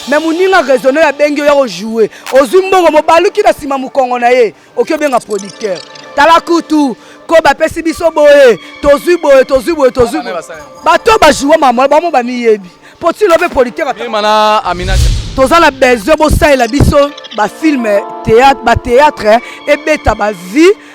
me moninga raisonne oyo abengi oya kojoue ozwi mbongo mobaluki na nsima mokongo na ye oki obenga producteur tala kutu ko bapesi biso boye tozwi boye tozwi boye tozwi bato oyo bajoue mamola bango bamiyebi mpo tilo mpe producteur toza na besoin bosalela biso bafilme batheatre ebeta bavie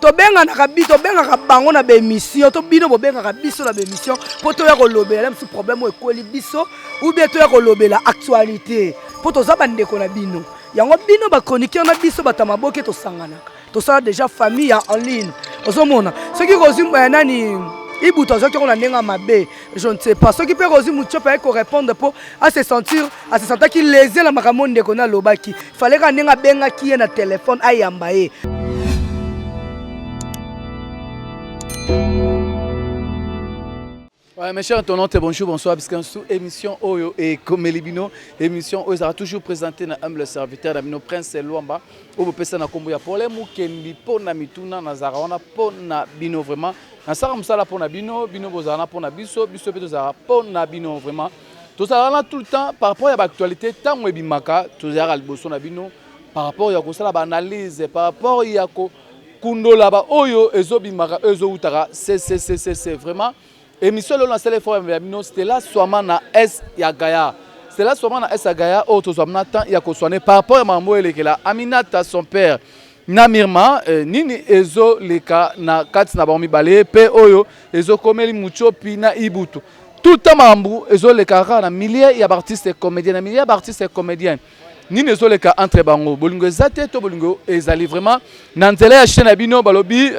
tobenganaka bi tobengaka bango na baémission to bino bobengaka biso na baémission mpo toya kolobela na mosusu problème oyo ekweli biso ou bien toya kolobela actualité mpo toza bandeko na bino yango bino bachroniqueur na biso bato ya maboke tosanganaka tosala déjà famille ya en ligne ozomona soki kozwi eh, nani ibutu azwaki yango na ndenge ya mabe je ne sais pas soki mpe kozwi mutiope ayaki korépondre mpo ase sentir asesantaki lese na makambo ndeko na alobaki faleka ndenge abengaki ye na telefone ayamba ye Ouais, mes chers tonantes, bonjour, bonsoir, parce que sous émission Oyo et comme Elibino, émission Oyo sera toujours présentée dans humble serviteur d'Amino Prince Luamba, où vous pouvez combo ya problème ou kendi pona mituna na zarawana pona bino vraiment. Na sara musala pona bino, bino bozana pona biso, biso pe tozara pona bino vraiment. Tozalaka na tout le temps par rapport ya ba actualités ntango ebimaka tozalaka liboso na bino par rapport ya kosala ba analyse par rapport ya ko kundola ba oyo ezobimaka oyo ezowutaka ccc vraiment émission lelo nasala effort ya bino Stella Swama na S ya Gaya Stella Swama na S ya Gaya oyo tozwa mna temps ya koswane par rapport ya makambo oyo elekela Aminata son père Na Mirma, nini ezo leka na kati na bango mibale pe oyo ezo komeli Mutshopi na Ibutu? Tout le temps makambo ezo lekaka kaka na milieu ya b'artistes comediens, na milieu ya b'artistes comediens nini ezo leka entre bango? Bolingo eza te to bolingo ezali? Vraiment na nzela ya chaine na bino balobi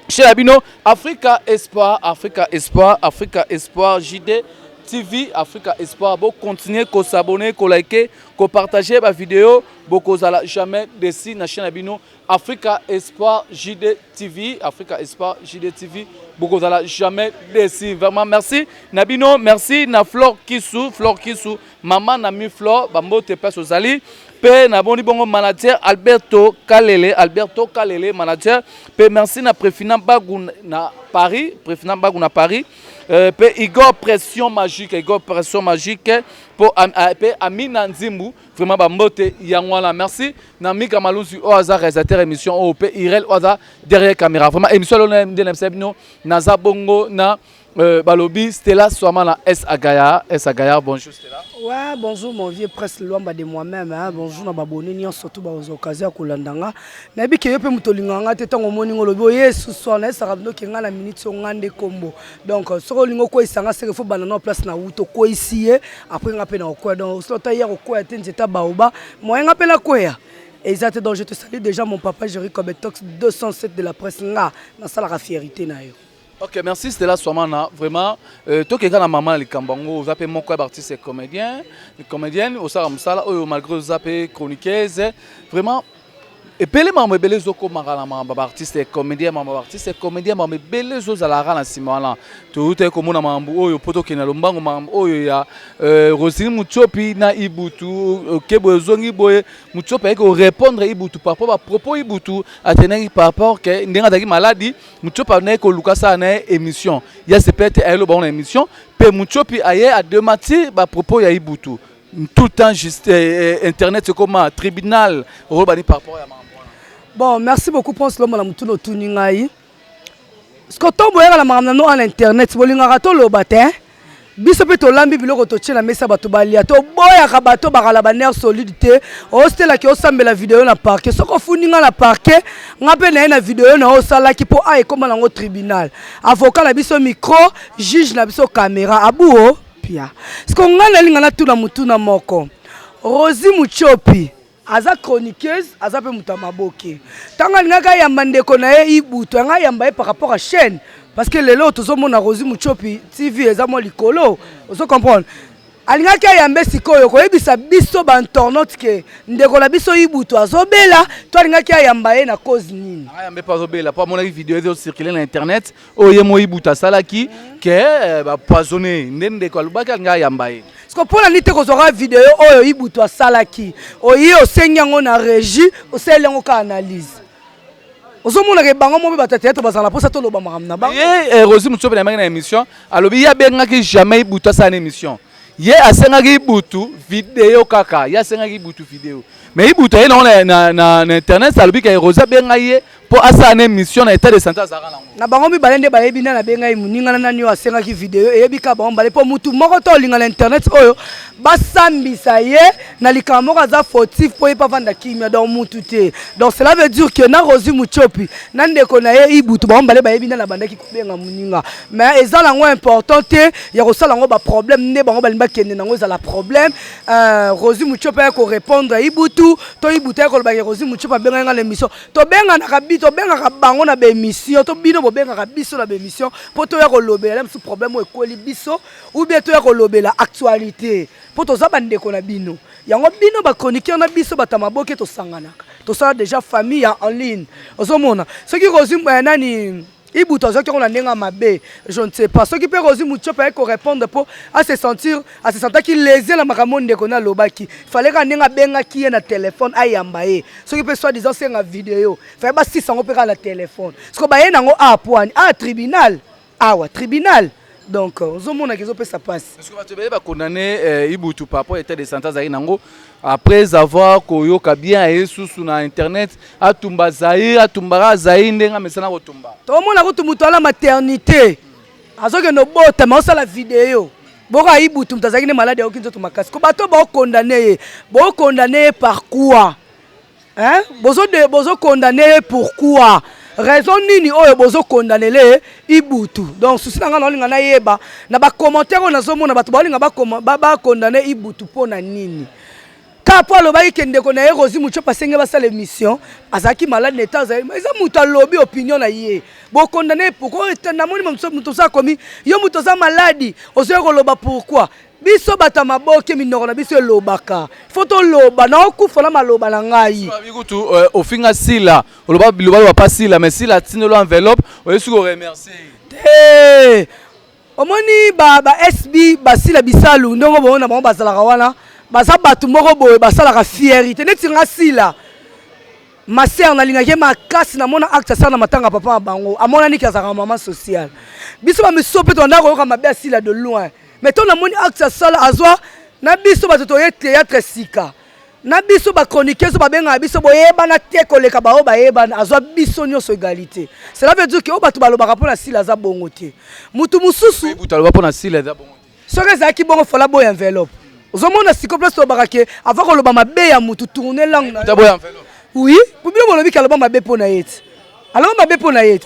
chaine na bino Africa Espoir, Africa Espoir, Africa Espoir JD TV, Africa Espoir bo continuer ko s'abonner, ko liker, ko partager ba videos. bokozala jamais desi na chaine na bino africa espoir jd tv africa espoir jd tv bokozala jamais desi vraiment merci na bino merci na flore kisu flore kisu mama na mi flore bambote place ozali mpe namoni bongo manager alberto kalele alberto kalele manager mpe merci na prefina bagu na paris prefina bagu na paris euh, mpe uh, igor pression magique igor pression magique mpo uh, mpe amina nzimbu uh, vraiment ba mbote yango wana merci na mika malusi oyo aza réalisateur émission oyo mpe irel oyo aza derrière caméra vraiment émission lona nde na bisa bino naza bongo na euh, balobi stella swama na s agaya s agaya bonjour stella ouais bonjour mon vieux presse luamba de moi-même hein. bonjour na babone nyonso to baoza occasion ya kolanda nga nayebi ke yo mpe moto olingaka nga te ntango omoni nga olobi oye susu wana esaka bino ke nga na minute oyo nga nde kombo donc soki olingi okweisa nga seke fo banda nao place na wuta okweisi ye apres nga mpe na okweya donc soki ata ya kokweya te nzete ya baoba moye nga mpe nakweya eza te donc je te salue déjà mon papa jeri cobetox 207 de la presse nga nasalaka fierité na yo ok merci stela swamana vraiment euh, tokeka na mama na likambo yango oza mpe moko ya baartiste ya comédien comédienne osalaka mosala oyo malgré oza mpe chroniqueuse vraiment Ebele makambo ebele ezokomaka na makambo ya baartiste ya comedien makambo ya baartiste ya comedien makambo ebele ezozalaka na nsima wana toutaki komona makambo oyo mpo tokende na lombango makambo oyo ya euh, rosine mutiopi na ibutu euh, kebo ezongi boye mutiopi ayaki korepondre ibutu par rapport bapropos ibutu atendaki par rapport ke ndenge azalaki maladi mutiopi andaki koluka asala na ye émission ya sepete ayeloba ngo na émission mpe mutiopi aye ademati bapropos ya ibutu tout temps juste eh, eh, internet ekoma tribunal oloba ni par rapport ya makambo wana bon merci beaucoup prince lomba na motuna otuni ngai siko to boyaka na makambo nano ana internet bolingaka toloba te biso mpe tolambi biloko totie na mesa bato balia toboyaka bato bakala baner solide te ositelaki osambela video na parke soki ofundi ngai na parke ngai mpe naye na video na yo osalaki mpo a ekoma nango tribunal avoka na biso micro juge na biso kamera abuo Pia. Siko nga nalinga natuna mutuna moko. Rosie Muchopi aza chroniqueuse, aza pe mutu ya maboke. Tango alingaka yamba ndeko na ye Ibutu, anga yamba ye par rapport à chaîne parce que lelo tozo mona Rosie Muchopi TV eza mwa likolo. Ozo comprendre? alingaki ayambe sikoyo koyebisa biso ba internaute ke ndeko na biso ibutu azobela to alingaki ayamba ye na cause nini ayambe mpe azobela mpo amonaki video ezo circule na internet oyo ye moi buta asalaki ke eh, bapoisonne nde ndeko alobaki alinga ayamba ye siko mpo na nini te kozwaka video oyo ibutu asalaki oye osengi yango na régie osaleli yango ka analyse ozomonaka ebango mo mpe bato ya teatre bazala mposa toloba makambo na bango ye eh, rosi mosusu mpe na yango na émission alobi ye abengaki jamais ibutu asala na émission ye asengaki ibutu video kaka ye asengaki ibutu video mais ibutu aye nango na internet alobi ke rosi abengai ye mpo asala na émission na état de santé azalaka nango na bango mibale nde bayebi nani abengai moninga na nani oyo asengaki video eyebi kaka bango mibale mpo motu moko to olinga na internet oyo basambisa ye na likambo moko aza fautif mpo ye mpe avanda kimia donc motu te donc cela veut dire que na rosi mutiopi na ndeko na ye ibutu bango mibale bayebi nani abandaki kobenga moninga mais eza nango important te ya kosala yango baproblème nde bango balingi bakende nango ezala problème euh, rosi mutiopi aya korépondre ibutu to ibutu aya kolobaki rosi mutiopi abengai nga na émission tobenganaka bi tobengaka bango na baemission to bino bobengaka biso na baemission mpo toya kolobela na mosusu problème oyo ekweli biso oubien toya kolobela actualité mpo toza bandeko na bino yango bino bachroniqueur na biso bato ya maboke tosanganaka tosala déjà famille ya en ligne ozomona soki kozwi eh, nani Ibutu azwaki yango na ndenge ya mabe, je ne sais pas soki mpe Rosie Mutshiopi aye ko repondre mpo a se sentir a se sentaki lese na makambo ndeko ne alobaki, fallait kaka ndenge abengaki ye na telephone ayamba ye, soki mpe soit disant senga video fallait basilisa yango mpe kaka na telephone, sikoyo baye na yango awa mpo ani? Awa tribunal? Awa tribunal? Donc ozomona kizo pesa passe. Parce que bato bele ba condamner euh, Ibutu par rapport à l'état de santé azali nango après avoir koyoka bien aye susu na internet atumba Zaïre atumbaka Zaïre ndenge amesana kotumba. Tomona kutu moto ala maternité azokende obotama osala video boka Ibutu moto azalaki nde malade ayoki nzoto makasi ko bato baokondane ye baokondane ye par quoi? Hein? Bozo de bozo condamner ye pourquoi? Raison nini oyo bozo condamner le Ibutu? Donc souci na nga na olinga na yeba na ba commentaires oyo nazo mona bato baolinga ba ba, ba condamner Ibutu pona nini? Ka po alobaki ke ndeko na ye Rosie Muchop asenge basala émission, azalaki malade na etat azali. Eza moto alobi opinion na ye. Bo condamner pourquoi? Namoni moto mosusu akomi yo moto oza maladi, ozoya koloba pourquoi? biso bato ya maboke minoko na biso elobaka fo toloba na okufa na maloba na ngai kutu euh, ofinga sila oloba biloba loba pa sila mais sila atindelo enveloppe oyesi koremercie te omoni ba, ba sb basila bisalu ndenge bongo na bango bazalaka wana baza bato moko boye basalaka fierite neti nga sila maser nalingaki makasi namona acte asala na matanga papa na bango amonani ke azalaka mama sociale biso bamiso mpe tolanda koyoka mabe asila de loin mais to namoni acte asala azwa na biso bato toye théâtre sika na biso bachroniqueuse babengaka biso boyebana te koleka baoyo bayebana azwa biso nyonso égalité cela veut dire ke oyo bato balobaka mpo na sila aza bongo te motu mosusu soki ezalaki bongo fala boya enveloppe ozomona siko place tolobaka ke ava koloba mabe ya motu tourne langue oui bino bolobi ke aloba mabe mpo na ye ti alongi mabe mpo na ye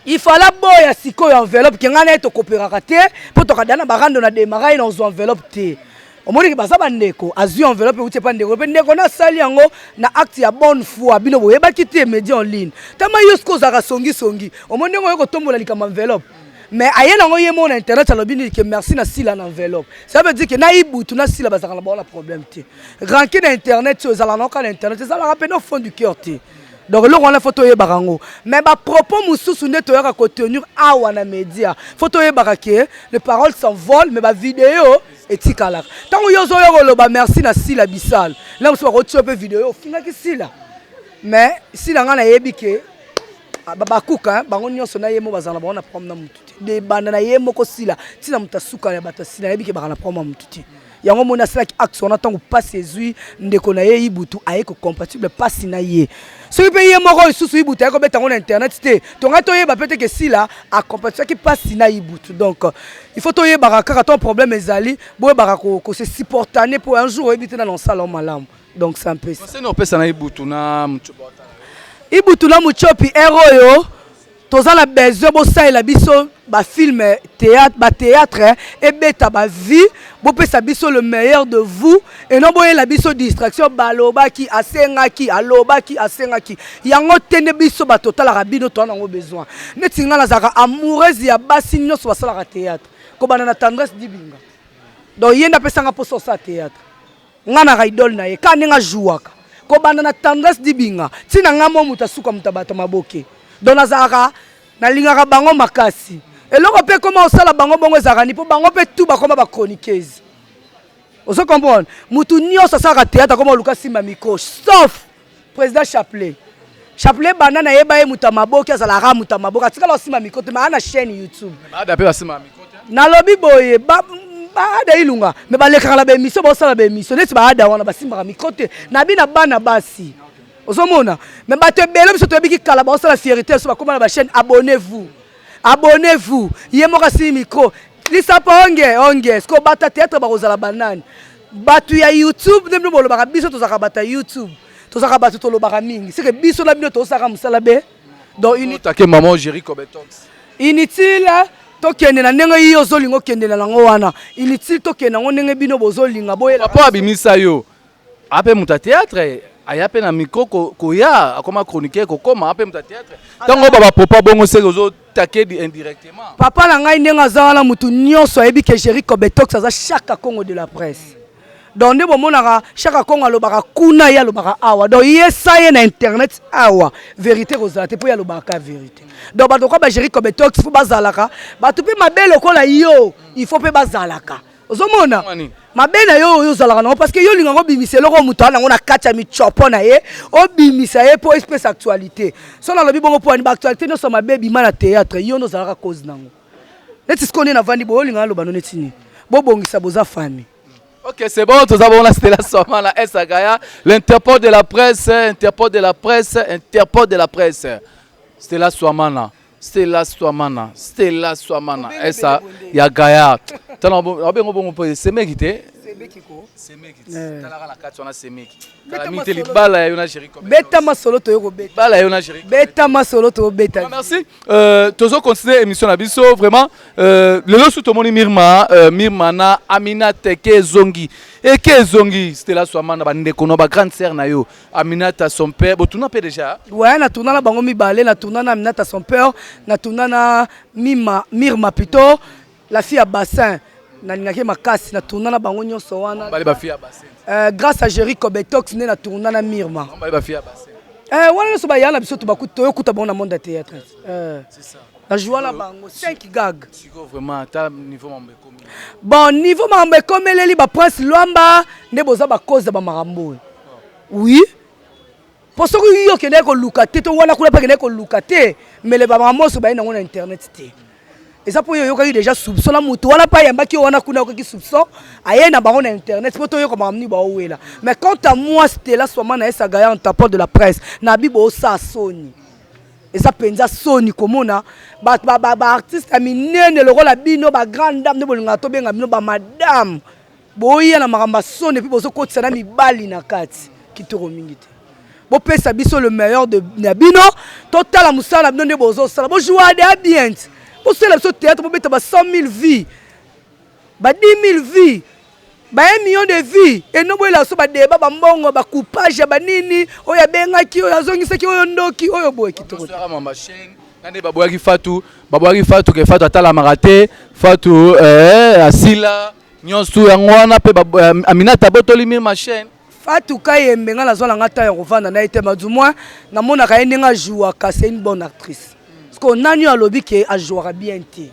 ifala boya sikoyo enveloppe ke ngai na ye tokoperaka te mpo tokada na barando na demara ye na ozwa enveloppe te omoniki baza bandeko azwi enveloppe euti epa ndeko mpe ndeko nasali yango na acte ya bonne foi bino boyebaki te media en ligne tama yo soki ozalaka songisongi omoni ndenge oyo kotombola likambo enveloppe mais aye nango ye moko na internet alobi nini ke merci na sila na enveloppe ça veut dire ke na ibutu na sila bazalaka na bango na problème te ranki na internet oyo ezalaka nango kaka na internet ezalaka mpena fond du cœur te donc eloko wana fo toyebaka yango mais bapropos mosusu nde toyaka kotenir awa na média fo toyebaka ke le parole s'envole mais bavideo etikalaka ntango yo ozoyoka oloba merci na sila bisal na mosusu bakotia mpe video ofingaki sila mais sila ngai nayebi ke Ah, babakuka hein, bango nyonso na ye moko bazala na bango na problème na motu te debanda na ye moko sila ntina moto asuka ya bato asila nayebi ke baka na problème ya motu te yango omoni asalaki axe wana ntango mpasi ezwi ndeko na ye ibutu aye kocompatible mpasi na ye soki mpe ye moko lisusu ibutu aye kobeta yango na internet te tongai toyeba mpe teke sila acompatiaki mpasi na ibutu donc il faut toyebaka kaka ntango problème ezali boyebaka kosesupportane mpo un jour oyebi te nana osala o malamu donc sans plus conseil no pesa na ibutu na mutchopi ibutu na mutchopi ero yo toza na besoin bosalela biso ba film théâtre ba théâtre ebeta ba vie bopesa biso le meilleur de vous et non boyela biso distraction balobaki asengaki alobaki asengaki yango te nde biso bato otalaka bino toza nango besoin neti ngai nazalaka amoureuse ya basi nyonso basalaka théâtre kobanda na tendresse dibinga donc ye nde apesanga mposa osala théâtre Nga na ka idole na ye ka ndenge a jouaka ko banda na tendresse dibinga ti na nga mwa moto ya suka moto ya bato ya maboke donc na zalaka na lingaka bango makasi eloko pe ekoma kosala bango bongo ezalaka ni po bango pe tout bakoma ba chroniqueuse ozo comprendre moto nioso asalaka theatre akoma koluka simba micro sauf President Chapelet. Chapelet banda na yeba ye moto ya maboke azalaka moto ya maboke atikala osimba mikote ma ana chaîne YouTube. Baada pe basimba mikote. Nalobi boye ba baada ilunga me balekaka na baemission baosala baemission neti baada wana basimbaka mikro te na bina bana basi ozomona me bato ebele biso toyebiki kala baosala fierité biso bakoma na bachaîne abonnez vous abonnez vous ye moko asili mikro lisapa onge onge siko bata teatre bakozala banani Batu ya YouTube nde bino bolobaka biso tozalaka bato ya YouTube tozalaka bato tolobaka mingi seke biso na bino tosalaka mosala be donc unitake maman Jerry Cobeton inutile hein? tokende na ndenge yo ozolinga okende na yango wana inutile tokende yango ndenge bino bozolinga boyela papa abimisa yo ape moto ya théâtre aya mpe na micro koya akoma chroniqueur kokoma ape moto ya théâtre ntango baba popa bongo seke ozo takedi indirectement papa na ngai ndenge aza wana motu nyonso ayebi ke géri cobetox aza shaka congo de la presse donc nde bomonaka shaka congo alobaka kuna ye alobaka awa donc ye sa ye na internet awa verité kozala te mpo ye alobaka ka verité donc bato kwa bagéri cobetox mpo bazalaka bato mpe mabe lokola yo il faut mpe bazalaka ozomona mabe na yo oyo ozalaka nango parce que yo olingaka obimisa eloko oyo moto aa nango na kati ya mitiopo na ye obimisa ye mpo espèce actualité so nalobi bongo mpo ani baactualité nyonso ya mabe ebima na théâtre yo nde ozalaka cause nango neti sikoyo nde navandi boye olingaka aloba no neti nini bobongisa boza fami Ok, c'est bon, tout d'abord, là, c'était la soirée, la Sagaya, l'interpôt de la presse, interpôt de la presse, interpôt de la presse. C'était la soirée, là. Stella Swamana, Stella Swamana, esa ya Gaillard. Tala abengo bongo mpo semeki te. Semeki ko. Semeki. Eh. Tala kala kati wana semeki. Tala mite libala ya yona chéri comme. Beta masolo to yoko beta. Bala ya yona chéri. Beta masolo to beta. Merci. Euh tozo continuer émission na biso vraiment euh lelo sous tomoni Mirma euh, Mirma na Amina Teke Zongi. Eke Zongi Stella Swamana ba ndeko na ba grande sœur na yo. Aminata son père bo tuna pe déjà ouais na tuna na bango mibale na tuna na Aminata son père na tuna na Mima Mirma plutôt la fille à bassin na lingaki makasi na tuna na bango nyonso wana bale ba fille à bassin euh, grâce à Jerry Kobetox ne na tuna na Mirma bale ba fille à bassin euh, wana nyonso ba yana biso to bakuta toyokuta bango na monde ya théâtre euh. c'est ça Na joua na bango 5 gag. Siko vraiment ata niveau mambo ekomi. Bon niveau mambo ekomeleli ba prince Luamba nde boza ba cause ya ba makambo oyo. Oui. Po soki yo kende ko luka te to wana kuna pa kende ko luka te mais le ba makambo so baye nango na internet te. Eza po yo yokaki déjà soupçon na mutu wana pa yamba ki wana kuna yokaki soupçon aye na bango na internet po to yoka makambo ni ba owela. Mais quant à moi Stella Swamana esa gaya en tapant de la presse na bibo sa soni. Eza penza soni komona ba ba artiste ya minene lokola bino ba grande dame nde bolingaka tobenga bino ba madame boya na makambo ya soni epuis bozokotisa na mibali na kati kitoko mingi te bopesa biso le meilleur de na bino totala mosala na bino nde bozosala bojouade ya bien bosala biso théâtre bobeta ba 100 000 vie Ba 10.000 vues ba un million de vues et no boyela biso ba debat ba mbongo ba coupage ya ba nini oyo abengaki oyo azongisaki oyo ndoki oyo boye kitoko te. nani baboyaki fatu baboyaki fatu ke fatu atalamaka te fatu eh, asila nyonso yango wana mpe eh, aminata abotoli mille machine fatu kayembe ngai nazwa na ngai ntango ya kovanda na ye te madu mwa namonaka ye ndenge ajouaka c'est une bonne actrice sikoyo nani oyo alobi ke ajouaka bien te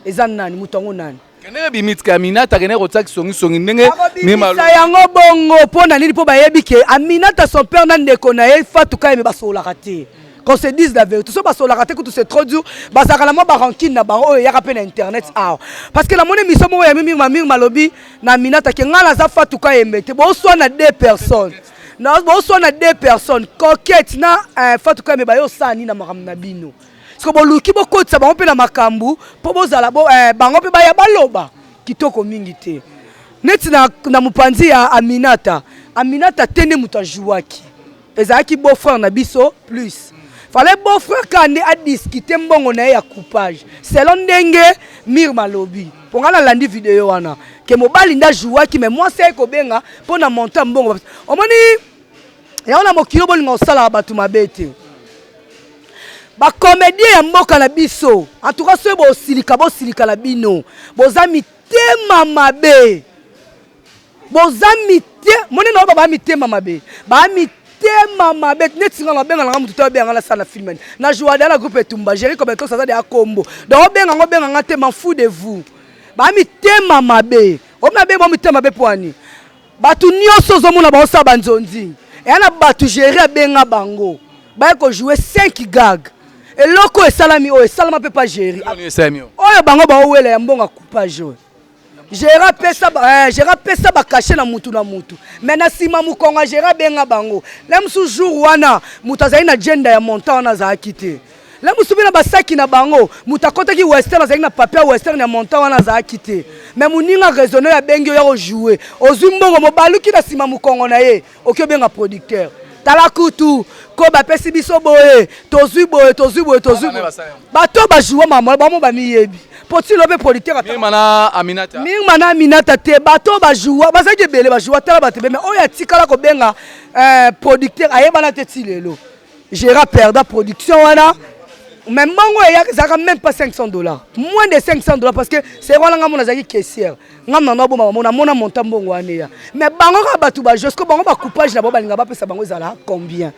eza nani moto yango nani kendeke bimitika ya minata kendeke kotia kisongisongi ndenge akobimisa yango bongo mpo na nini mpo bayebi ke aminata son père na ndeko na ye fatuka yeme basololaka te qu'on se dise la vérité so basololaka te kutu c'est trop dur bazalaka na mwa barankine na bango oyo eyaka mpe na internet awa parce que namoni miso moko ya mimir mamir malobi na aminata ke ngai naza fatuka yembe te boswa na deux personnes boswa na deux personnes coquette na eh, fatuka yembe baye osani na makambo na bino siko boluki bokotisa bango mpe na makambo mpo bozala bo, eh, bango mpe baya baloba kitoko mingi te neti na, na mopanzi ya aminata aminata te nde moto ajouaki ezalaki beau frère na biso plus fallait beau frère kaka nde adiskite mbongo na ye ya coupage selon ndenge mire malobi mpo ngai nalandi video wana ke mobali nde ajouaki me mwasi aye kobenga mpo na montant mbongo omoni yango na mokili oyo bolinga kosalaka bato mabe te bakomedie ya mboka na biso antuka soki bosilika bosilika na bino boza mitema mabe boza mite moni na oyo baa mitema mabe baa mitema mabe neti nga nabenga nanga motu te obenga nga nasala na filmani na joada na groupe etumba géri kobetos aza deya kombo donc obenga nga obenga nga te man fou de vous baa mitema mabe obi mabe bo mitema mabe poani Batu nioso ozomona baosala banzonzing eya na batu jere abenga bango baye kojoue 5 gag eloko esalami oyo esalama mpe pa jeri oyo bango baowela ya mbongo coupage oyo jere apesa eh, bakashe na mutu na mutu me na nsima mokongo ya jere abenga bango na mosusu jour wana moto azali na jenda ya montant wana azalaki te La mosusu mpe na basaki na bango moto akotaki western azalaki na papier ya western ya montant wana azalaki te me moninga raisonne oyo abengi oyo akojoue ozwi mbongo mobaluki na nsima mokongo na ye oki obenga producteur tala kutu ko bapesi biso boye tozwi boye tozwi boye tozwi bato bajoua mamola bango bamiyebi mpo tilo mpe producteur mirma na aminata te bato bajoua bazalaki ebele bajoua tala bato ebele me oyo atikala kobenga eh, producteur ayebana te ti lelo Gera perda production wana mais mbongo eyaka ezalaka même pas 500 dollars moins de 500 dollars parce que c'est wana ngai mona azalaki caissière ngai mna naboma bango namona monta mbongo wana eya mais bango kaka bato bajosco bango bacoupage na bango balinga bapesa bango ezala combien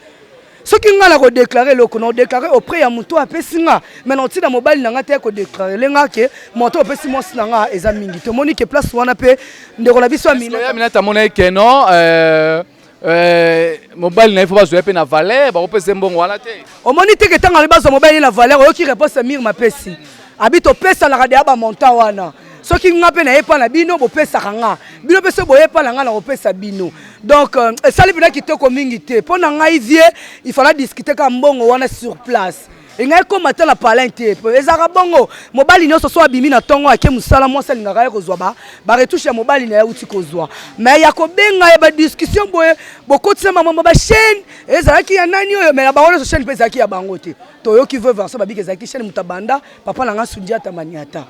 soki ngai nakodeklare eloko naodeklare auprès ya moto apesi nga mai naotina mobali na ngai te kodeklare le ngai ke moto opesi mwasi na ngai eza mingi tomoni ke place wana mpe ndeko na biso aminata amonaki keno euh, Euh, mobali na ye fo bazwa ye mpe na valeur bakopesa ye mbongo wana te omoni teke ntango alobi bazwa mobali ye na valeur oyoki réponse ya mire mapesi abi topesanaka deya bamontant wana soki nga mpe naye epa na bino bopesaka nga bino mpe soki boye epa na nga nakopesa bino donc euh, esali mpenza kitoko mingi te mpo na ngai vie ifala discute kaka mbongo wana sur place engai ekoma ata na palin te po ezalaka bongo mobali nyonso so abimi na ntongo ake mosala mwasi alingaka ye kozwa baretouche ya mobali na ye auti kozwa me ya kobenga ya badiskussion boye bokotisa mamama bachaine ezalaki ya nani oyo me na bango nyonso chaine mpe ezalaki ya bango te toyoki veuve anso babiki ezalaki chaine moto abanda papa na ngai sundiata maniata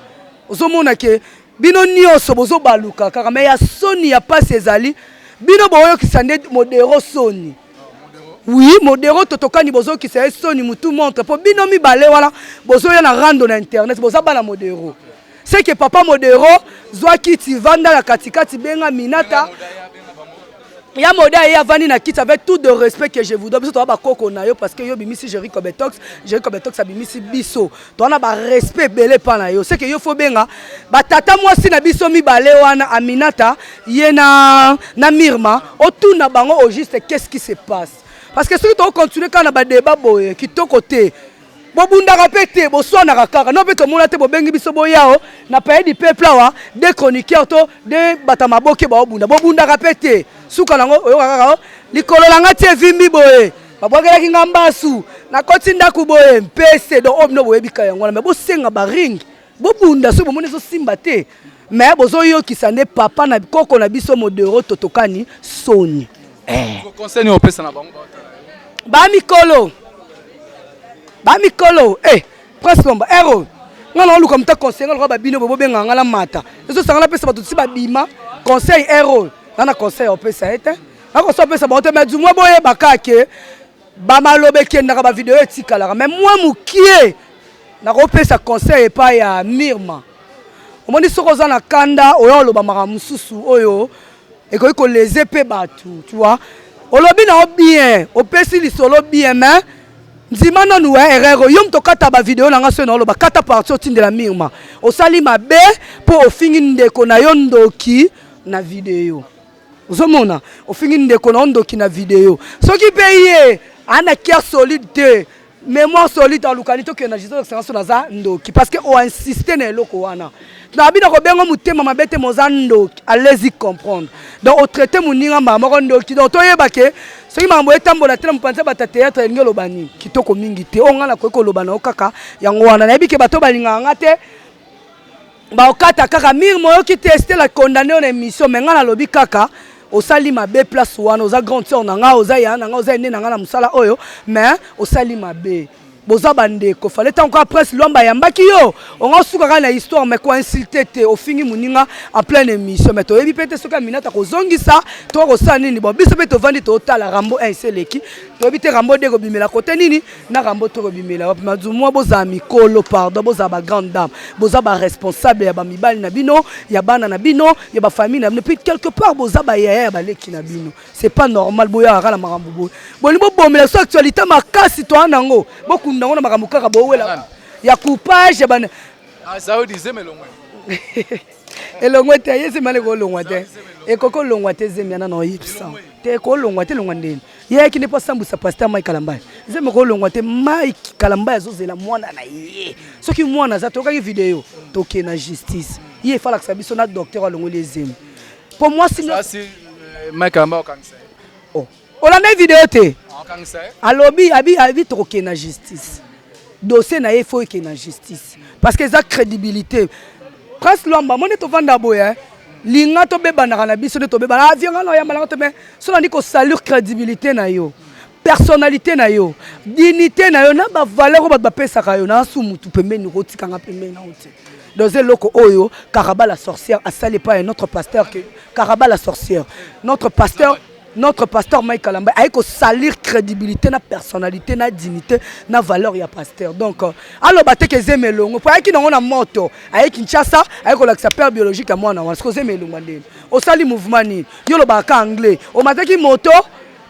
ozomona ke bino nyonso bozobaluka kaka me ya soni ya mpasi ezali bino boyokisa nde modero soni Oui, modero totokani bozo kisa ye soni mutu montre po bino mibale wana bozo ya na rando na internet boza bana modero. C'est que papa modero zwa kiti vanda na katikati benga minata ya moda ye avandi na kiti avec tout de respect que je vous dois biso toza bakoko na yo parce que yo obimisi jericho betox jericho betox abimisi biso toza na barespect ebele epa na yo seke yo fo benga batata mwasi na biso mibale wana aminata ye na, na mirma otuna bango au juste qu'est ce qui se passe parce que soki tokocontinue kaka na badeba boye kitoko te bobundaka mpe te boswanaka kaka no mpe tomona te bobengi biso boyao na paye du peuple awa de chroniqueur to de bata maboke baobunda bobundaka mpe te suka nango oyoka kaka oh, likolo na ngai ti evimbi boye babwakelaki nga mbasu nakoti ndako boye mpese donc oyo bino boyebika yango wana me bosenga baring bobunda soki bomoni ezosimba te me bozoyokisa nde papa na koko na biso modero totokani soni eh. bamikolo bamikolo eh, prince lomba ero nga naoluka moto conseil nga lokola babino boye bobengaka nga na mata ezosanga napesa bato tisi babima conseil ero nga na conseil opesa ye te nakosa opesa bango te mais du moins boyeba kaka ke bamaloba ekendaka bavideo etikalaka mais mwa mokie nakopesa conseil epai ya mirma omoni soki oza na kanda oya oloba makambo mosusu oyo ekoki koleze mpe bato tu vois olobi na yo bien opesi lisolo bien mais ndima nanu ya erreur oyo yo moto okata bavideo na ngai soki naoloba kata parti otindela mirma osali mabe mpo ofingi ndeko na yo ndoki na video ozomona ofingi ndeko na yo ndoki na video soki mpe ye ana kia solide te mémoire solide alukani tokende na jesus excellence naza ndoki parce que oinsiste na eloko wana nabi na kobenga motema mabe te moza ndoki alezi comprendre donc otraite moninga mbala moko ndoki donc toyeba ke soki makambo etambola te na mopanzi bata théâtre elingi oloba nini kitoko mingi te oyo ngai nakoki koloba na yo kaka yango wana nayebi ke bato balingaka ngai te Bakokata kaka mire moyoki te Estelle a condamne yo na emission mais ngai nalobi kaka osali mabe place wana oza grande sœur na ngai oza yaya na ngai oza ene na ngai na mosala oyo mais osali mabe boza bandeko fale ntango kaka prince lwamba ayambaki yo onga osuka kaka na histoire mais koinsulte te ofingi moninga en pleine émission mais toyebi mpe te soki aminata kozongisa to kosala nini bon biso mpe tovandi totala rambo 1 esi eleki toyebi te rambo 2 ekobimela kote nini na rambo tokobimela wapi mazumua bozala mikolo pardon bozala ba grande dame boza ba responsable ya bamibali na bino ya bana na bino ya bafamille na bino puis quelque part boza bayaya ya baleki na bino c'est pas normal boyaka na makambo boye bolingi bobomela biso actualité makasi toa na yango bokunda yango na makambo kaka bowela ya coupage ya bana elongwe te ye zemi aleki olongwa te ekoki olongwa te zemi ana na oyebisa te ekolongwa te elongwa ndeni ye akende mpo asambwisa paster mike kalambaya nzembo okolongwa te mike kalambaya azozela mwana na ye soki mwana aza toyokaki video toke na justice ye efalakisa biso na docteur alongoli ye zembo mpo mwasi eh, mike kalambaya okangisa ye oh, olandaki video te ah, alobi abi abi tokokende na justice dossier na ye fo ekende na justice parce que eza crédibilité Prince Luamba, moni tovanda boye hein. Linga to bebanaka na biso nde tobebana. Ah, vieux nga na oyambalaka te mais so nandi ko salir credibilité na yo. Personnalité na yo, dignité na yo na ba valeur bato bapesaka yo na su mutu pembeni okotika nga pembeni na ote. Dans eloko oyo Karaba la sorcière asali pas un autre pasteur que Karaba la sorcière. Notre pasteur Notre pasteur Mike Kalambay aye ko salir crédibilité na personnalité na dignité na valeur ya pasteur. Donc euh, aloba te ke zeme longo po ayaki nango na moto aye Kinshasa aye kolakisa père biologique ya mwana wana siko zeme elongwa ndeni osali mouvement nini yo olobaka ka anglais omataki moto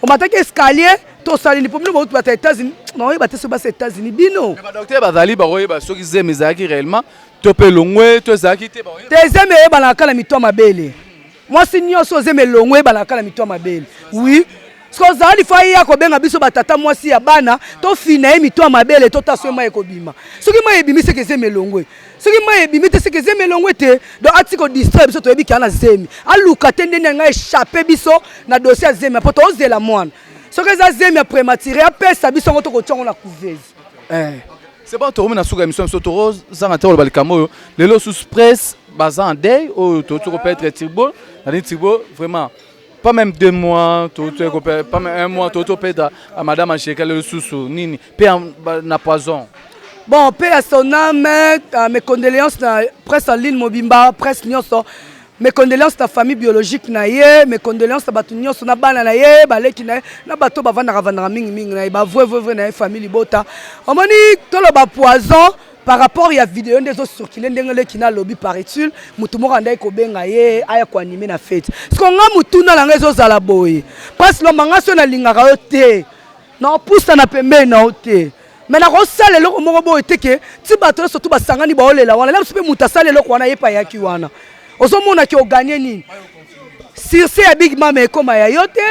omataki escalier to osali nini po bino bauti bata États-Unis baoyeba te soki basi États-Unis bino badoktere bazali bakoyeba soki zeme ezalaki réellement to mpe elongwe to ezalaki te bakoyeba te zeme eyebanaka na mito ya mabele mwasi nyonso oyo zemi elongo eyebana kaka na mitu ya mabele wi soki ozala lifo aye ya kobenga biso batata mwasi ya bana tofina ye mitu ya mabele tota soki mai ekobima soki mai ebimi seke zemi elongo soki mai ebimi te seke zemi elongo te donc ati kodistraire biso toyebi kea na zemi aluka te ndeni yango echappe biso na dosie ya zemi mpo tozela mwana soki eza zemi ya prématuré apesa biso yango tokotia yango na couvese eh. C'est bon, tokomi na suka émission biso toko zanga te koloba likambo oyo lelo sous presse baza en deuil oyo tokoki koperdre Turbo nani Turbo vraiment pas même deux mois tokoki koperdre pas même un mois tokoki koperdre à madame Angelica lelo susu nini mpe ya- ba- na poison bon mpe ya son âme ah, mes condoléances na presse en ligne mobimba presse nyonso Mes condoleances na famille biologique na ye, mes condoleances na bato nyonso na bana na ye, baleki na ye, na bato bavandaka vandaka mingi mingi na ye, ba vrai vrai vrai na ye famille libota. Omoni toloba poison par rapport ya video nde ezo circuler ndenge leki na alobi paraît-il mutu moko andaki kobenga ye aya ko animer na fete. Siko nga mutuna na nga ezo zala boye, Prince Lomba nga soki nalingaka yo te, na kopusa na pembeni na yo te, mais nakosala eloko moko boye te ke ti bato nyonso tu basangani baolela wana na biso mpe moto asali eloko wana ye mpe ayaki wana ozomona ke oganye nini surse ya big mama ekoma ya yo te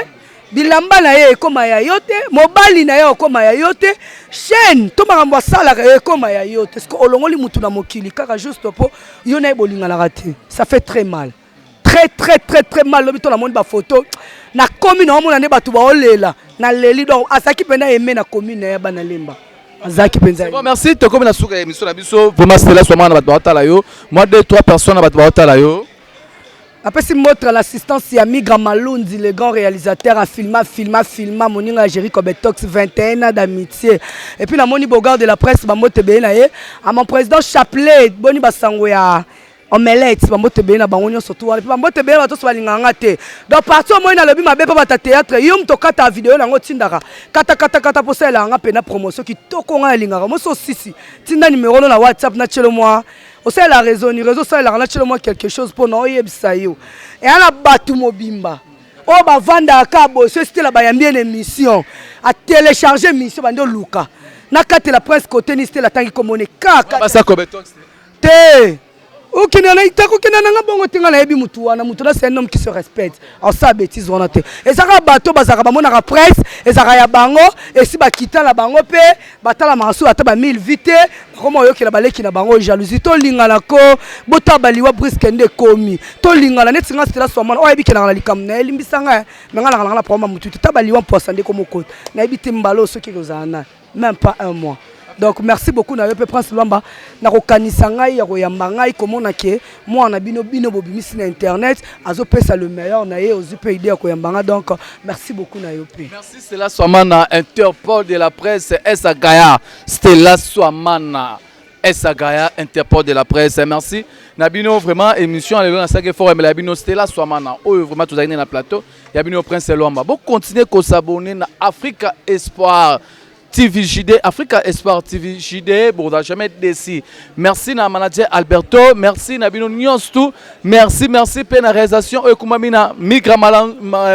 bilamba na ye ekoma ya yo te mobali na ye okoma ya yo te chaine to makambo asalaka yo ekoma ya yo te siko olongoli motu na mokili kaka juste mpo yo na ye bolinganaka te ça fait très mal très très très très mal lobi to namoni bafoto na commune omona nde bato baolela na leli donc azalaki mpenza eme na commune ya bana lemba azalaki mpenza bon merci tokomi na suka ya émission na biso vraiment stela swamana na bato baotala yo mwa deux trois personnes na bato baotala yo apesi motre l'assistance ya migra malundi le grand réalisateur afilma filma filma moninga ya jerico betox 21 ans d'amitié epuis namoni bogard de la presse bambote ebele na ye a mon président chapelet boni basango ya omelette bambote ebele na bango nyonso tu wana mpe bambote ebele bato nyonso balingaka nga te donc parti omoi nalobi mabe mpo bata théâtre yo moto okataka video na yango otindaka katakatakata mpo osalelaka nga mpe na promotion kitoko ngai nalingaka mosi osisi tinda nimero no na whatsapp na tielo mwa osalelaka réseau ni réseau osalelaka na tielo mwa quelque chose mpo na oyebisa yo eya na bato mobimba oyo bavandaka ka boso esitela bayambi ena émission atelecharge émission bande oluka nakatela prince cote ni stela atangi komone kaka Te okenda na ita kokenda na nga bongo te nga nayebi mutu wana mutu na c'est un homme qui se respecte asala betise wana te eza kaka bato bazalaka bamonaka presse ezalaka ya bango esi bakita na bango mpe batalamaka soki ata ba 1000 vie te bakoma oyokela baleki na bango jalousie tolingana ko botala baliwa briske nde ekomi tolingana neti nga stela swamana oyo ayebi kendaka na likambo na ye limbisa nga me nga naka nanga na problème ya motu te ta baliwa mposa nde komokota nayebi te mbala oyo soki ekozala nani meme pas un mois donc merci beaucoup na yo mpe prince lwamba na kokanisa ngai ya koyamba ngai komona ke mwana na bino bino bobimisi na internet azopesa le meilleur na ye ozwi mpe idée ya koyamba ngai donc merci beaucoup na yo mpe merci stella swamana interpol de la presse esa gaya stella swamana esa gaya interpol de la presse merci na bino vraiment émission ya lelo nasalaki fort emela ya bino stella swamana oyo vraiment tozali nde na plateau ya bino prince lwamba bocontinue kosabone na africa espoir tv jde africa espoir tv jde bokozala jamais desi merci na manager alberto merci na bino nyonso tu merci merci mpe na réalisation oyo ekumbami na migra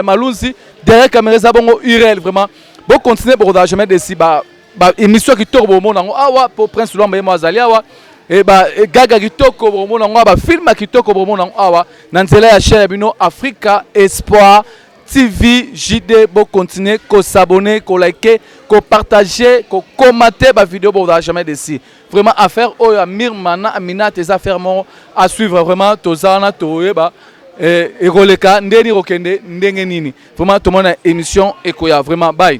malunzi derrière camera eza bongo urel vraiment bocontinue bokozala jamais desi ba ba émission kitoko bomona yango awa po prince lwamba yemo azali awa e ba e gaga kitoko bomona yango awa ba film kitoko bomona yango awa na nzela ya chaîne ya bino africa espoir tv jd bo continuer ko s'abonner ko liker ko partager ko commenter ba vidéo bo za jamais desi vraiment affaire oyo ya mirmana aminate eza affaire moko à suivre vraiment toza wana toyeba ekoleka ndeni kokende ndenge nini vraiment tomona émission ekoya vraiment bye